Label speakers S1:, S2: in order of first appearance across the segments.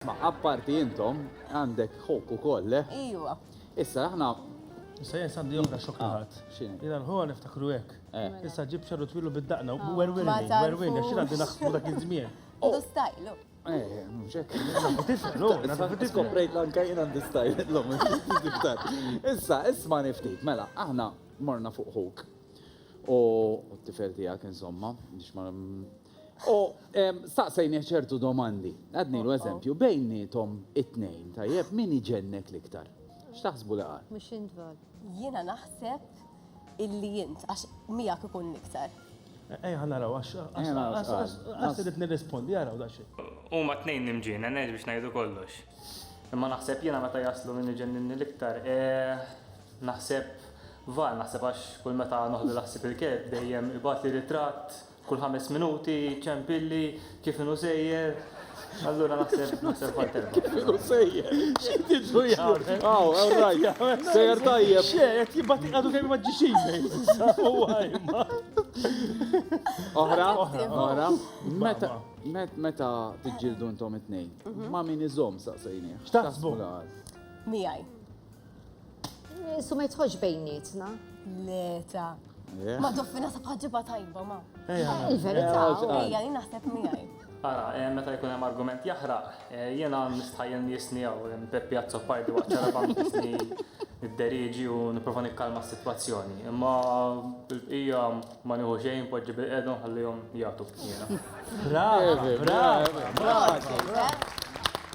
S1: Ma apparti intom, għandek ħok u koll, le? Eh? Iwa. Issa,
S2: aħna.
S1: Issa jen sandi
S3: oħra xokka ah, ħat. Xin? Jena l-ħuħa
S1: niftakru
S3: ek. Eh. Issa ġib xarru twilu bid-daqna u werwin.
S2: Werwin,
S3: xina għandi
S2: naħsbu dak
S3: iż-żmien. U oh. stajlu.
S2: Eh,
S1: mxek. Tiflu,
S3: tiflu. Prejt l-anka jena
S1: għandi stajlu. L-lum, Issa, isma niftit, mela, aħna morna fuq ħuk. U t-tifel tijak, insomma, biex ma U staqsejnih ċertu domandi. Għadnilu eżempju, bejniethom it-tnejn, tajjeb, min iġennek l-iktar? X'taħsbu li qal? Mhux int Val.
S4: Jiena naħseb
S2: illi int, għax miegħek ikun l-iktar. Ejja ħa naraw
S3: għax qatt irrid nirrispondi, araw daqsxejn. Huma t-tnejn
S5: imġienen, hekk biex ngħidu kollox. Imma naħseb jiena meta jaslu min iġenninni l-iktar, naħseb Val, naħseb għax kull meta noħdilha ħsieb il-kelb dejjem ibgħatli ritratt Kull ħames minuti ċempilli kif inhu sejjer. Allura naħseb naħseb għal terba. Kif inhu sejjer?
S1: X'tidlu
S3: jagħmel? Aw, all right.
S1: Sejjer tajjeb. Xe, qed jibgħat għadu
S3: kemm ma ġiex email.
S1: Oħra, oħra. Meta meta tiġġieldu intom it-tnejn, ma' min iżomm saqsejni. X'taħsbu?
S3: Miegħi.
S4: Su ma jitħoġ bejnietna. Le, ta.
S2: Ma doffina sa bħagġiba tajba, ma. Il-verità,
S4: ejja, li naħseb
S2: miegħi. Ara, eh, meta
S5: jkun hemm argument jaħraq, eh, jiena nistħajjel nisni jew eh, Peppi Azzoppardi waqt ċaraba nisni id-deriġi u nipprova nikkalma s-sitwazzjoni. Imma bil-bqija Ma nieħu xejn, poġġi bil-qeda u nħallihom jagħtu b'tniena. Brava, brava,
S3: brava.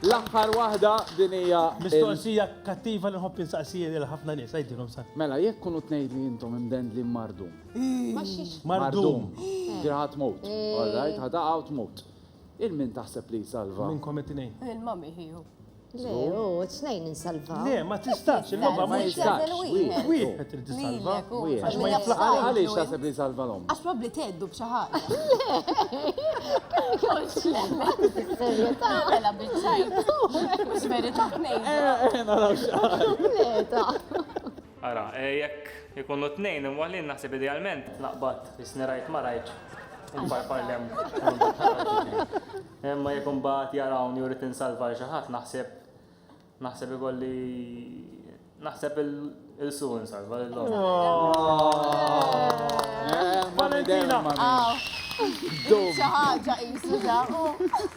S3: L-aħħar
S1: waħda din hija. Mistoqsija
S3: kattiva li nħobb insaqsija lil ħafna nies, għidilhom sa. Mela, jekk kunu tnejd
S1: li intom imdendli mardum.
S3: Mardum. Ġirħat
S1: mut. All right, ħadaqa u tmut. Il-min taħseb li jsalva? Minnkom it-tnejn.
S3: Il-mami ħiju.
S2: Le,
S4: u t-snejn insalva. Le, ma tistax,
S3: il-logħba ma jistax. Wieħed trid
S1: tisalva.
S3: Għax ma jaflaqa
S1: għaliex taħseb li salva l-om. Għax probli teddu b'xi
S2: ħaġa. Serjetà. Għala biċċajt. Mhux verità tnejn. Naraw
S1: x'għal.
S5: Ara, jekk ikunu tnejn imwaħlin naħseb idealment. Naqbad, jisni rajt ma rajt. Imparpar lem. Imma jekk imbagħad jarawni u rrid insalva lil xi ħadd naħseb naħseb ikolli naħseb il su insalva lil
S2: Valentina! Xi
S3: ħaġa
S2: qisu da.